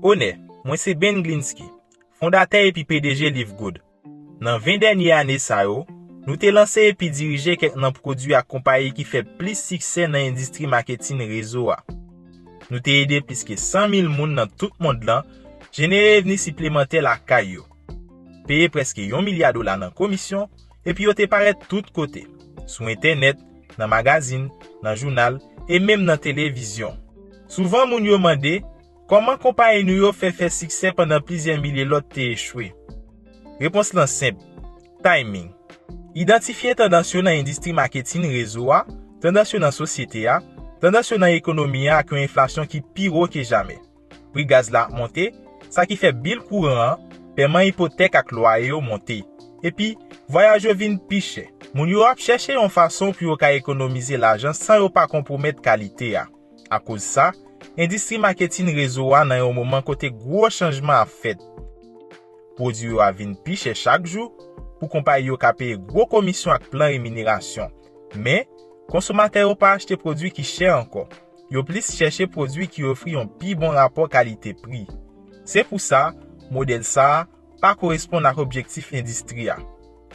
Onè, mwen se Ben Glinsky, fondatè epi pdg Live Good. Nan 20 dènye ane sa yo, nou te lanse epi dirije kèk nan pwodui ak konpayi ki fè plis siksè nan endistri maketin rezo a. Nou te ede plis ke 100 mil moun nan tout mond lan jenere revni siplemantè lakay yo, peye prèske yon milya dola nan komisyon, epi yo te parèt tout kote, sou entènèt, nan magazin, nan jounal, e menm nan televizyon. Souvan moun yo mande, Kòman konpayi nou yo fè fè siksè pandan plizyè milye lòt te echwe? Repons lan senp, Timing. Idantifye tandans yo nan endistri maketin rezo a, tandans yo nan sosyete a, tandans yo nan ekonomi a ak yon enflasyon ki pi wo ke jamè. Pri gaz la ap monte, sa ki fè bil kouran an, pèman ipotèk ak lwaye yo monte. Epi, vwayaj yo vin pi chè. Moun yo ap chèche yon fason pou yo ka ekonomize lajan san yo pa konpwomèt kalite a. Akoz sa, endistri maketin rezo a nan yon moman kote gwo chanjman ap fèt. Pwodui yo ap vin pi chè chak jou pou konpayi yo ka peye gwo komisyon ak plan reminerasyon. Men, konsomatè yo pa achte pwodui ki chè ankò. Yo plis chèche pwodui ki ofri yon pi bon rapò kalite-pri. Se pou sa, modèl sa a, pa koresponn ak objektif endistri a.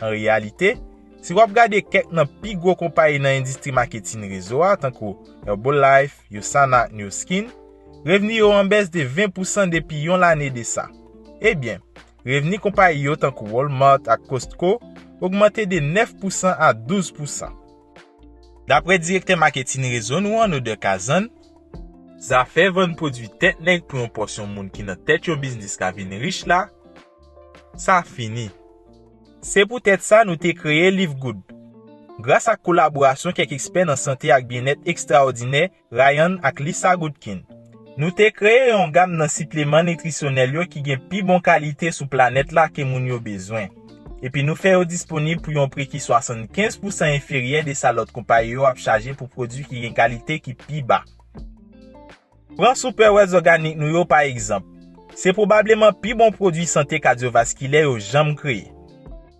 An reyalite, si w ap gade kèk nan pi gwo konpayi nan endistri maketin rezo a tankou Herbalife, Usana ak Nu Skin, revni yo an bès de 20 pousan depi yon lane de sa. Ebyen, revni konpayi yo tankou Walmart ak Costco ogmante de 9 pousan a 12 pousan. Daprè direktè maketin rezo nou an, Noder Kazan, zafè vann pwodui tèt nèg pou yon pòsyon moun ki nan tèt yon biznis ka vin rich la, sa fini. Se poutèt sa nou te kreye Live Good. Gras ak kolaborasyon kèk ekspè nan sante ak byennèt ekstraòdinè, Ryan ak Lisa Goodkin. Nou te kreye yon gam nan sipleman nitrisyonèl yo ki gen pi bon kalite sou planèt la ke moun yo bezwen, epi nou fè yo disponib pou yon pri ki 75 pousan enferyè de sa lòt konpayi yo ap chaje pou pwodui ki gen kalite ki pi ba. Pran Superwells Organic nou yo pa egzanp. Se pwobableman pi bon pwodui sante kadyovaskilè yo janm kreye.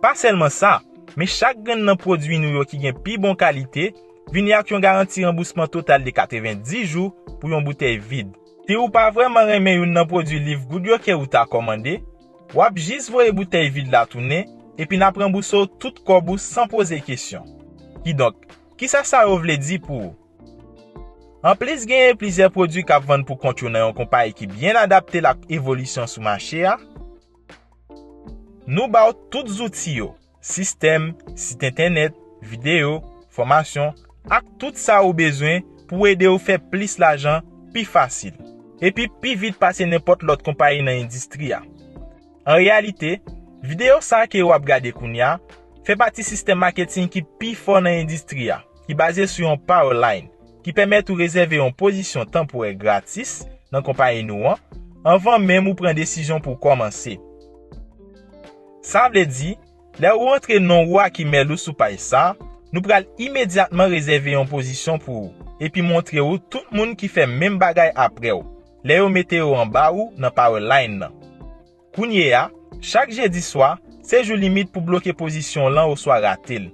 Pa sèlman sa, men chak grenn nan pwodui nou yo ki gen pi bon kalite vini ak yon garanti ranbousman total de 90 jou pou yon boutèy vid. Si ou pa vrèman renmen youn nan pwodui Liv Goud yo ke ou ta kòmande, w ap jis voye boutèy vid la tounen epi n ap ranbouse w tout kòb ou san poze kesyon. Kidonk, kisa sa yo vle di pou ou? Anplis genyen plizyè pwodui k ap vann pou kont yo nan yon konpayi ki byen adapte l ak evolisyon sou mache a, Nou ba w tout zouti yo, sistèm, sit entènèt, videyo, fòmasyon, ak tout sa ou bezwen pou ede w fè plis lajan pi fasil, epi pi vit pase nenpòt lòt konpayi nan endistri a. An reyalite, videyo sa ke ou ap gade kounya fè pati sistèm maketing ki pi fò nan endistri a. ki baze sou yon Power Line ki pèmèt ou rezève yon pozisyon tanporè gratis nan konpayi nou an anvan menm ou pran desizyon pou w kòmanse. Sa vle di, lè ou antre non ou ak imèl ou sou paj sa, nou pral imedyatman rezève yon pozisyon pou ou epi montre ou tout moun ki fè menm bagay apre w lè yo mete yo anba ou nan Power Line nan. Kounye a, chak jedi swa, se jou limit pou bloke pozisyon w lan oswa rate l.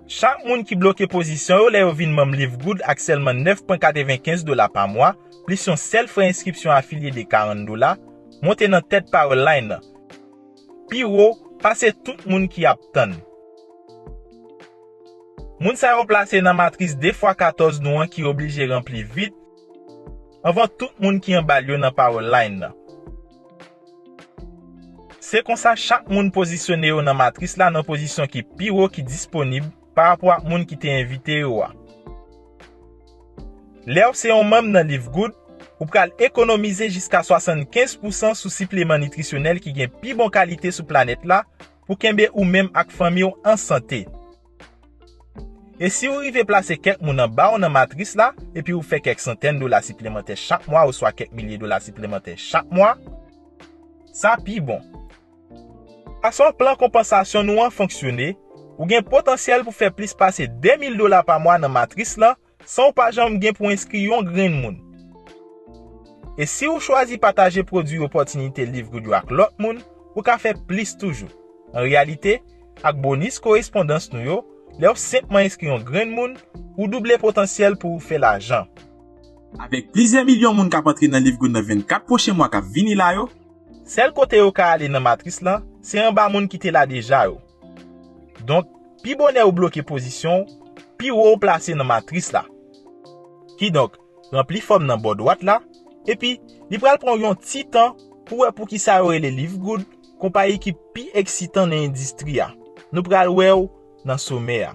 Chak moun ki bloke pozisyon yo lè yo vin manm Live Good ak sèlman 9,95 dola pa mwa, plis yon sèl frè enskripsyon afilye de 40 dola, monte nan tèt power line lan, pi wo pase tout moun ki ap tann. Moun sa yo plase nan matris 2 fwa 14 nou an ki oblije ranpli vit, Anvan tout moun ki anba l yo nan pawòl line nan. Se konsa chak moun pozisyone yo nan matris la nan pozisyon ki pi wo ki disponib parapò ak moun ki te envite yo a. Lè w se yon manm nan Live Good, ou pral ekonomize jiska 75 pousan sou sipleman nitrisyonèl ki gen pi bon kalite sou planèt la pou kenbe ou menm ak fanmi w an sante. E si ou rive plase kèk moun anba w nan matris la epi ou fè kèk santèn dola siplemantè chak mwa oswa kèk milye dola siplemantè chak mwa, sa pi bon. Fason plan konpansasyon nou an fonksyone, ou gen potansyèl pou fè plis pase 2 mil dola pa mwa nan matris lan san w pa janm gen pou enskri yon grenn moun. E si ou chwazi pataje pwodui Opòtinite Liv Goodyo ak lòt moun, ou ka fè plis toujou. An reyalite, ak bonis korespondans nou yo, lè w senpman enskri yon grenn moun, ou double potansyèl pou ou fè lajan. Avèk plizyè milyon moun k ap antre nan Liv Good nan 24 pwochen mwa k ap vini la yo, Sèl kote yo ka ale nan matris lan, se anba moun ki te la deja yo. Donk, pi bonè ou bloke pozisyon ou, pi wo ou plase nan matris la. Kidonk, ranpli fòm nan bò dwat la, epi li pral pran w yon ti tan pou wè poukisa yo rele Live Good konpayi ki pi eksitan nan endistri a. Nou pral wè w nan somè a.